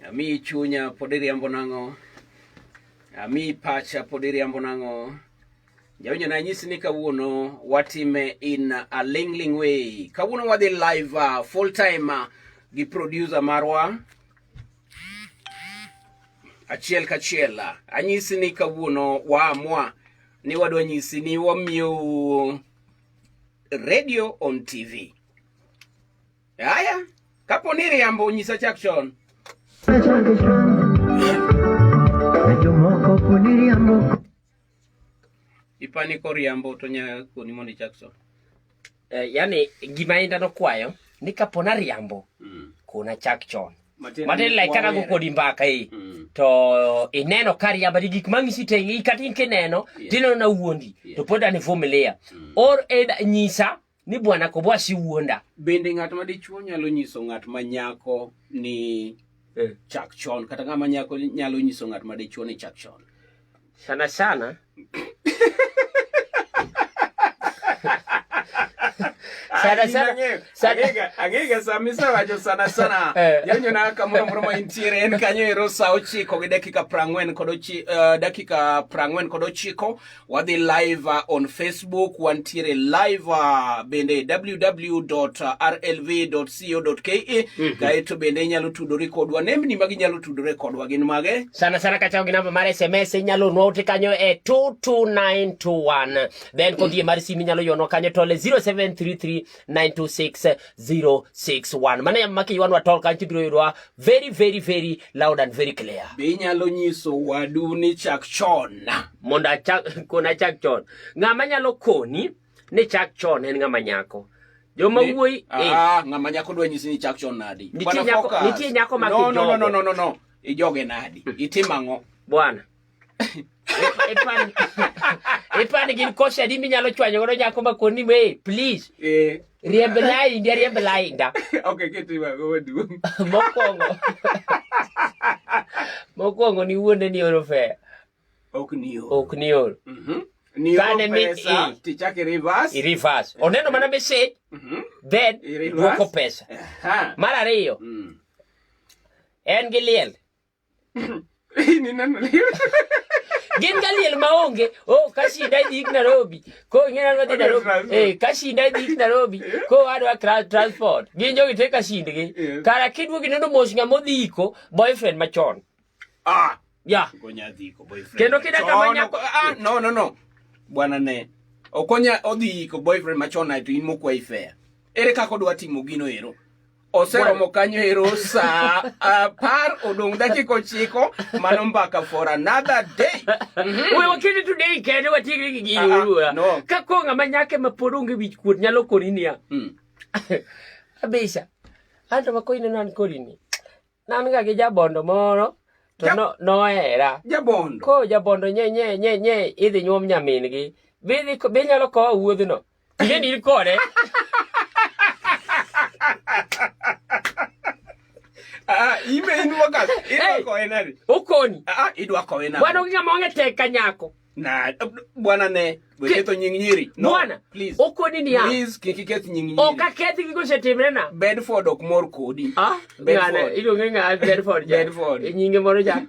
Ami chunya pod iriambo nang'o? Ami pacha pod iriambo nang'o? Jawinjo na nyisi ni kawuono watime in a lingling way. Kawuono wadhi live uh, full time uh, gi producer marwa achiel kachiel. Uh, anyisi ni kawuono waamua ni wadwa nyisi ni wamiyo radio on TV. Haya, kapo ni riambo nyisa chak chon. Ipani ko riambo to nya koni mondo ichak chon. Eh, yani gima inda no kwayo ni kapo na riambo mm. kuna chak chon. matin like kata go kodi mbaka i mm. to ineno kari abadi gik mang'isi te i kata in kineno tineno na wuondi to pod an ivumilia mm. or eda nyisa ni bwana kobwa si wuonda bende ng'at ma dichuo nyalo nyiso ng'at ma nyako ni eh. chak chon kata ng'ama nyako nyalo nyiso ng'at ma dichuo ni chak chon Sana sana. sana sana sana agega samisa wajo sana sana eh. yanyo na kamoro moro ma intiere en kanyo ero sa ochiko gi dakika prangwen kod ochi uh, dakika prangwen kod ochiko wadhi live uh, on facebook wantiere live uh, bende www.rlv co.ke mm -hmm. kaeto bende inyalo tudori kodwa nembni ma ginyalo tudore kodwa gin mage sana sana kachako gi namba mar sms inyalo nwa ote kanyo e 22921 then kodie mar simu inyalo yonwa kanyo tole 0733926061 mano yamo maki ywanwa tol kanyo tibiro yudwa very very very loud and very clear be inyalo nyiso wadu ni chak chon mondo achak kona chak chon ng'ama nyalo koni ni chak chon en ng'ama nyako joma wuoyi ah, eh. ah, ng'ama nyako dwa nyisi ni chak chon nadi nitie nyako nitie nyako ma no, no, no, no, no, no. ijoge nadi hmm. itim ang'o bwana ipani gin kose adi minyalo chwanyo godo nyako ma koni me please eh. riemb lainda riemb lainda okay kitiwa go maduong mokwongo mokwongo ni wuonde ni oro fea Ok niol. Ok niol. Mm -hmm. Kane mi pesa, tichake reverse. I reverse. Eh. Oneno mana message. Mm -hmm. Then duoko pesa. Uh -huh. Mar ariyo. Mm. En gi liel. Ni neno liel. gin ka liel maonge o oh, ka shida idhi ik Nairobi ko ing'eyo ni wadhi Nairobi eh ka shida idhi ik Nairobi ko wadwa transport gin jogi te ka shindgi kara kidwogi neno mos ng'ama odhi iko boyfriend machon Ah, yeah. Okonya dhi ko boyfriend. Kendo kida kama nyako ah no no no. Bwana ne. Okonya odhi ko boyfriend machon aito in mokwa ifea. Ere kako dwa timo gino ero? oseromo kanyo ero saa apar odong' dakika ochiko mano mbaka for another day mhm. we wakende today kende watiekre gi gini ah, ah, oluora ka koro ng'ama nyake ma pod onge wich kuot nyalo kori niya hmm. abisa anto ma koineno an kori ni Nan ga gi jabondo moro to no nohera. Jabondo. Ko jabondo nye nye nye nye idhi nyuom nyamin gi. Bidhi bi nyalo kowa wuodhno. Ine ni kode. Ah, ime in wakas. Idwa kowe nani? Ukoni. Ah, idwa kowe nani? Bwana ukika monge teka nyako. na bwana ne weketho nying nyiri no, bwana please okoni ni ya please kiki keth nying nyiri oka kethi gigo setimre na Bedford ok mor kodi ah ngana iluonge ng'a Bedford ja Bedford e nyinge moro ja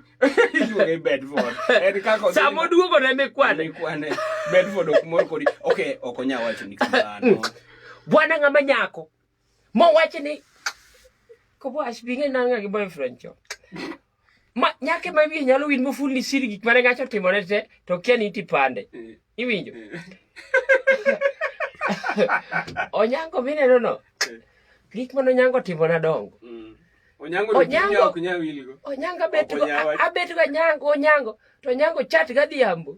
iluonge Bedford en kako samo duogo ne mikwane mikwane Bedford ok mor kodi okay ok onya wacho ni kamano bwana ng'ama nyako mo wacho ni kobo ashbinge nanga gi boyfriend cho ma nyake ma wiye nyalo win mofulni siri gik mane ng'acho timone te to kia ni iti pande eh. iwinjo eh. onyango mineno no eh. gik mane onyango timona dongo mm. onyango onyango abetgo anyango onyango to onyango chat gadhiambo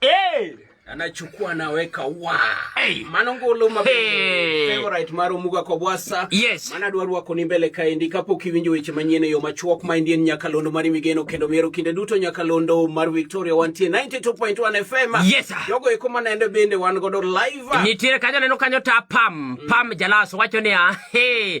Hey! anachukua anaweka wa hey. manongolo mabe hey. favorite maro muga kwa bwasa yes. mana dwaru wako ni mbele kaendi kapo kiwinjo weche manyien yo machuok ma indien nyakalondo mari migeno kendo miero kinde duto nyakalondo mar Victoria wantie 92.1 FM yes, sir. jogo eko manende bende wan godo live nitiere kanyo neno kanyo ta pam mm. pam jalaso wacho ni ah, hey.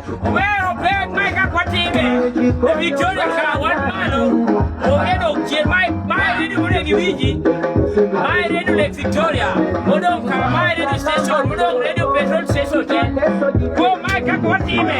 Wero pek ma ka kwatime e Victoria ka wan malo onge dok chien ma ma redio mune gi wiji ma redio Lake Victoria modong ka ma redio station modong redio petrol station te kuom ma ka kwatime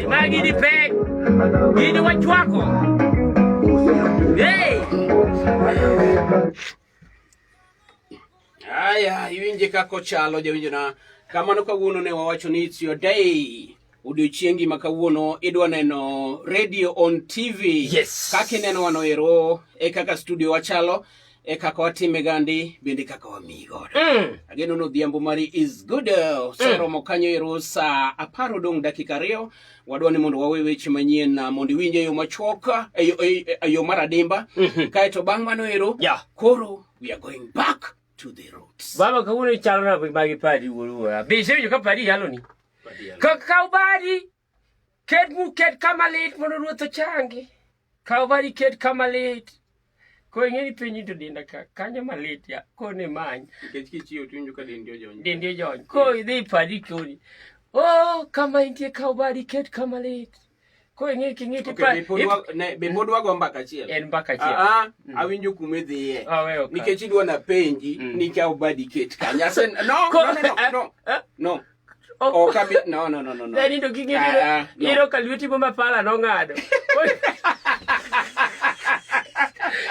Magi ni pe. Ni watu wako. Hey. Aya, iwinje kako chalo jawinjo na. Kamano kawuono ne wawacho ni it's your day. Odiochiengi ma kawuono idwa neno radio on TV. Yes. Kaka ineno wano ero e kaka studio wachalo. e kaka watime gandi bende kaka wamiyi godo mm. ageno ni odhiambo mari is good oseromo mm. kanyo ero sa apar odong' dakika ariyo wadwa ni mondo wawe weche manyien ah, mondo iwinje yo machuok ah, eyo mar adimba mm -hmm. kaeto bang' mano ero yeah. koro we are going back to the roots baba kawuono ichalo na magi padi wuoruwora be isewinjo ka padi yaloni ka kaw padi Ket mu ket kama lit mondo ruoth ochangi. Kaw bari ket kama lit. Ko ing'e ni piny to dinda ka kanyo malit ya ko ne many. Nikech kichiwo tunju ka dendi ojony. Dendi ojony. Ko idhi padi koni. Oh, kama intie kaw bari ket kama lit. Ko ing'e king'e ti pa. Be pod wago mbaka achiel. En mbaka achiel. Ah, ah mm. awinjo kuma idhiye. Ah, Nikech idwa na penji mm. ni kaw bari ket kanya. No, no, no, no. No. Ok abi, no, no, no, no. no. Dani to king'e Ah, ah, no. yero ka lweti go ma pala nong'ado.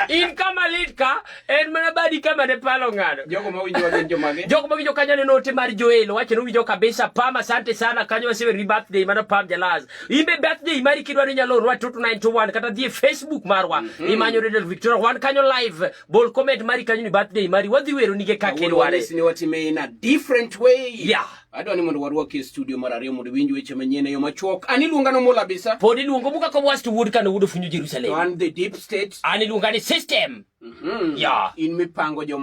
In kama lit ka, en mana badi kama ne pala ong'ado. Jogo ma winjo gin jomage? Jok mawinjo kanyo aneno ote mar Joel wacho ni winjo kabisa Pam asante sana kanyo wasewe ri birthday mano Pam Jalaz imbe birthday mari kidwaro inyalo orwa 29291 kata dhi e Facebook marwa mm -hmm. imanyo Radio Victoria wan kanyo live Bol comment mari kanyo ni birthday mari wadhi wero nige kaka irware. Awuono ni watime in a different way. Yeah. Adwa ni mondo warwaki e studio mar ariyo mondo winj weche manyien e yo machuok. An iluonga no Mula Bisa. Pod iluongo muka ko was to wood kana wudo funyo Jerusalem. To an the deep state. An iluonga ni system. Mhm. Mm yeah. In mipango joma